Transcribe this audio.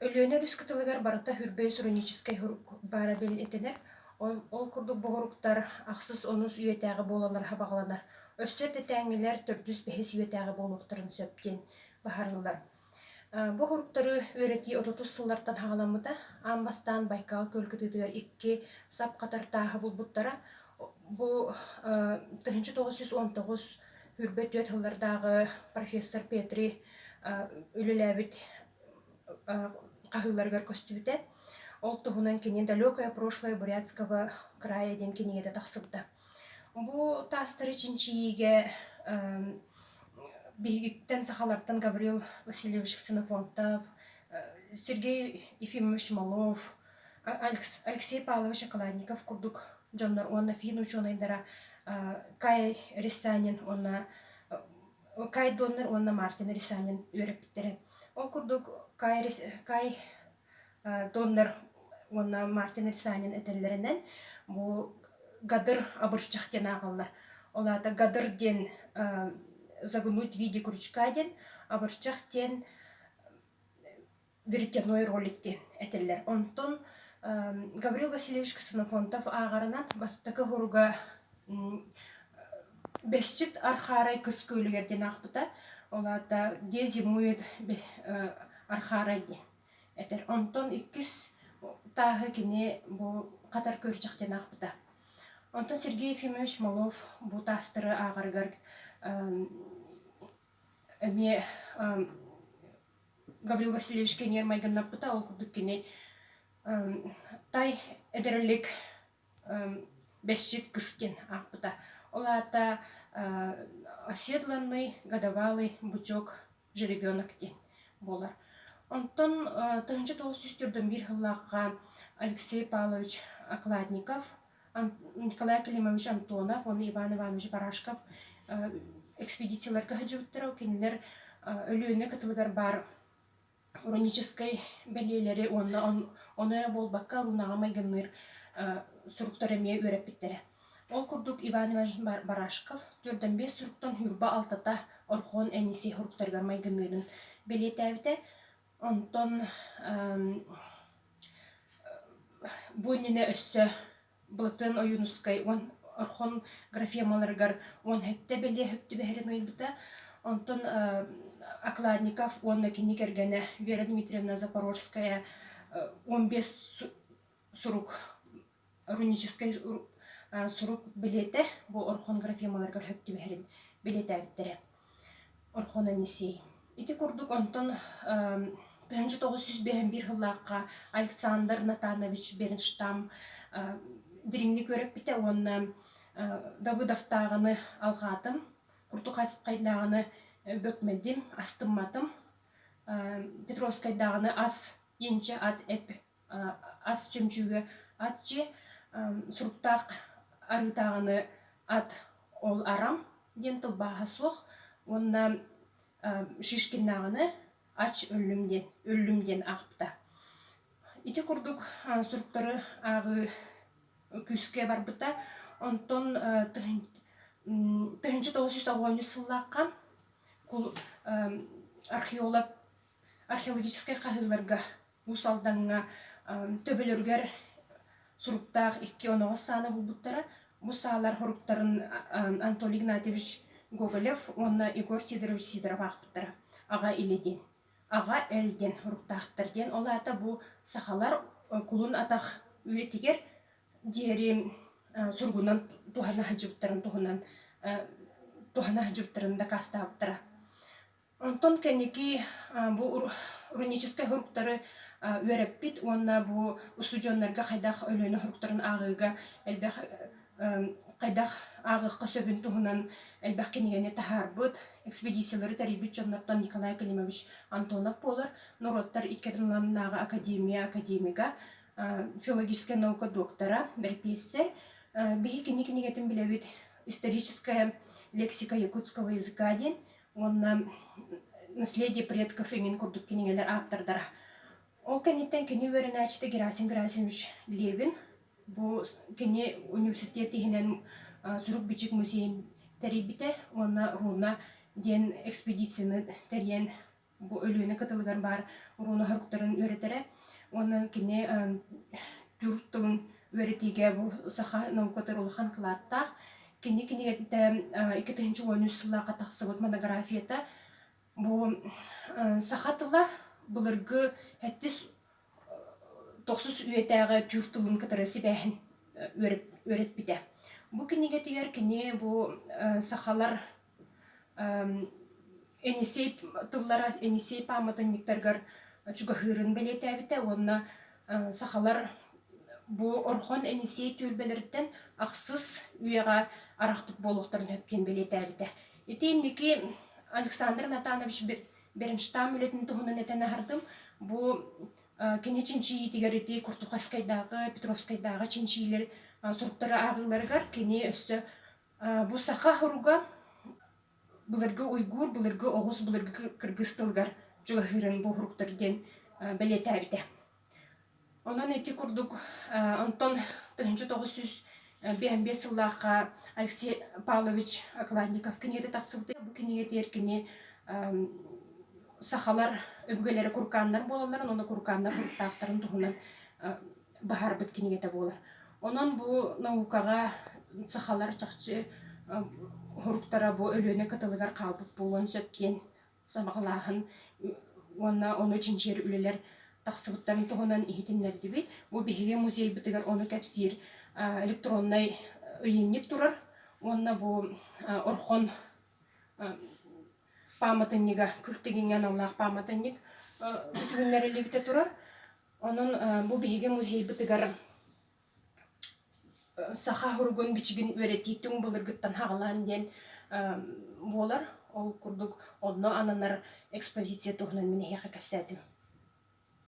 Өлүөнэ өрүс кытылыгар барыта үрбэ суроническай сурук баара бэлиэтэнэр, ол курдук боҕуруктар, ахсыс онус үйэтээҕи буолаллара сабаҕаланар. Өссө эрдэтээҥҥилэр төрдүс бэһис үйэтээҕи буолуохтарын сөп диэн быһаарыллар. Боҕуруктары үөрэтии отутус сыллартан саҕаламмыта. Аан бастаан Байкал күөл кытыытыгар икки сап хатар тааһы булбуттара. Бу тыһыынча тоҕус жүз он тоҕус Үрбэт түөрт сыллардааҕы профессор Петри үлэлээбит хаһыыларыгар көстүбүтэ. Ол туһунан кини «Далекое прошлое Бурятского края» диэн кинигэтэ тахсыбыта. Бу таастары чинчийиигэ биһигиттэн сахалартан Гаврил Васильевич Ксенофонтов, Сергей Ефимович Малов, Алексей Павлович Околанников курдук дьоннор уонна финн-учуонайдара Кай Рисанин уонна Кай Доннер уонна Мартин Рисанин үөрэппиттэрэ. Ол курдук Кай, Кай Доннер уонна Мартин Рисанин этэллэринэн бу гадыр абырчах диэн ааҕаллар. Ол аата гадыр диэн загнуть в виде крючка диэн, абырчах диэн бүртяной ролик диэн этиллэр. Онтон Гаврил Васильевич Ксенофонтов ааҕарынан бастакы уруга Бесчит Архарай көскөлүгэр диэн аахпыта. Ол аата «Где зимует Архарай» диэн этэр. Онтон иккис тааһы кини бу Хатар көрчөх диэн аахпыта. Онтон Сергей Ефимович Малов бу таастыры ааҕарыгар эмиэ Гаврил Васильевичка ньиэрмайгыннаппыта, ол курдук кини тай эдэрэлик Бэсчит Кыстин аахпыта. Ол аата оседланный годовалый бычок жеребенок диэн буолар. Онтон тыһыынча тоҕус сүүс төрдөн биир сыллаахха Алексей Павлович Окладников Николай Климович Антонов уонна Иван Иванович Барашков экспедицияларга сылдьыбыттара. Ол кинилэр Өлүөнэ кытылыгар баар уроническай бэлиэлэри уонна ону эрэ буолбакка лунаҕа майгынныыр суруктары эмиэ үөрэппиттэрэ. Ол курдук Иван Иванович Барашков төрдөн биэс суруктан ньурба алтата Орхон Эниси суруктарыгар майгынныырын бэлиэтээбитэ. Онтон бу иннинэ өссө Былытын Ойуунускай уон орхон графемаларыгар уон сэттэ бэлиэһик түбэһэрин уйбута. Онтон Окладников уонна кини кэргэнэ Вера Дмитриевна Запорожская он бес сурук руническай сурук билиэтэ бу орхон графемалар көрһөп түбэһэрин билиэтээбиттэрэ орхон анисей ити курдук онтон тыһыынча тоҕус сүүс биэһин биир сыллаахха александр натанович бернштам дириҥник үөрэппитэ уонна дабыдавтааҕыны алҕаатым куртухайскайдааҕыны бөкмөдүм астымматым петровскайдааҕыны ас инчэ ат эп ас чөмчүгэ аччы суруктаах арыытааҕыны ат ол арам диэн тылбааһа суох уонна шишкиннааҕыны ач өллүм диэн өллүм диэн аахпыта ити курдук суруктары ааҕыы күүскэ барбыта онтон тыһыынча тоҕус жүз оҕуонньус сыллаахха археолог археологическай хаһыыларга Уус Алдаҥҥа төбөлөрүгэр суруктаах икки оноҕос саана булбуттара. Бу саалар хоруктарын Анатолий Игнатьевич Гоголев уонна Егор Сидорович Сидоров аахпыттара. Аҕа илэ диэн. Аҕа эл диэн хоруктаахтар диэн. Ол аата бу сахалар кулун атах үйэтигэр диэри сургунан туһана сылдьыбыттарын туһунан туһана сылдьыбыттарын дакаастаабыттара. Онтон кэнники бу руническай уруктары үөрэппит уонна бу устудьуоннарга хайдах Өлүөнэ уруктарын ааҕыыга элбэх хайдах ааҕыахха сөбүн туһунан элбэх кинигэни таһаарбыт, экспедициялары тэрийбит дьоннортон Николай Климович Антонов буолар. Норуоттар икки ардыларынааҕы академия академига, филологическай наука доктора, бэрэпиэссэр. Биһи кини кинигэтин билэбит историческая лексика якутского языка диэн уонна наследие предков эҥин курдук кинигэлэр ааптардара ол кэнниттэн кини үөрэнээччитэ Герасим Герасимович Левин бу кини университет иһинэн сурук-бичик музейын тэрийбитэ уонна руна диэн экспедицияны тэрийэн бу Өлүөнэ кытылыгар баар руна хоруктарын үөрэтэрэ уонна кини түрк тылын үөрэтиигэ бу саха наукатын улахан кылааттаах Кини кинигэтитэ икки тыһыынча уон үс сыллаахха тахсыбыт монографията бу саха тыла былыргы эттис тохсус үйэтээҕи түүр тылын кытары сибээһин үөрэппитэ. Бу кинигэтигэр кини бу сахалар Енисей тыллара Енисей пааматынньыктарыгар чугаһыырын бэлиэтээбитэ уонна сахалар бу Орхон Енисей түөлбэлэриттэн ахсыс үйэҕэ арахпыт буолуохтарын сөп диэн бэлиэтээбитэ. Ити инники Александр Натанович Беренштам үлэтин туһунан этэн аһардым. Бу кини чинчийиитигэр ити Куртухайскайдааҕы, Петровскайдааҕы чинчиилэр суруктары ааҕыыларыгар кини өссө Бу саха оһуруга былыргы уйгуур, былыргы оҕус, былыргы кыргыс тылыгар чугаһыырын бу оһуруктар диэн бэлиэтээбитэ. Онон ити курдук онтон тыһыынча тоҕус сүүс биэс сыллаахха Алексей Павлович Окладников кинигэтэ тахсыбыта. Бу кинигэтигэр кини сахалар өбүгэлэрэ куркааннар буолалларын уонна куркааннар куртаахтарын туһунан баһарбыт кинигэтэ буолар. Онон бу наукаҕа сахалар чахчы уһуруктара бу Өлүөнэ кытылыгар хаалбыт буолуон сөп диэн сабаҕалааһын уонна ону чинчийэр үлэлэр тахсыбыттарын туһунан иһитиннэрдибит. Бу биһиги музейбытыгар ону кэпсиир электроннай ыйынньык турар уонна бу Орхон пааматынньыга күл тигиҥҥэ аналлаах пааматынньык бүтүһүннэриллибитэ турар. Онон бу биһиги музейбытыгар саха оһуругун бичигин үөрэтии түҥ былыргыттан хаҕылаан диэн буолар. Ол курдук онно ананар экспозиция туһунан мин эһиэхэ кэпсээтим.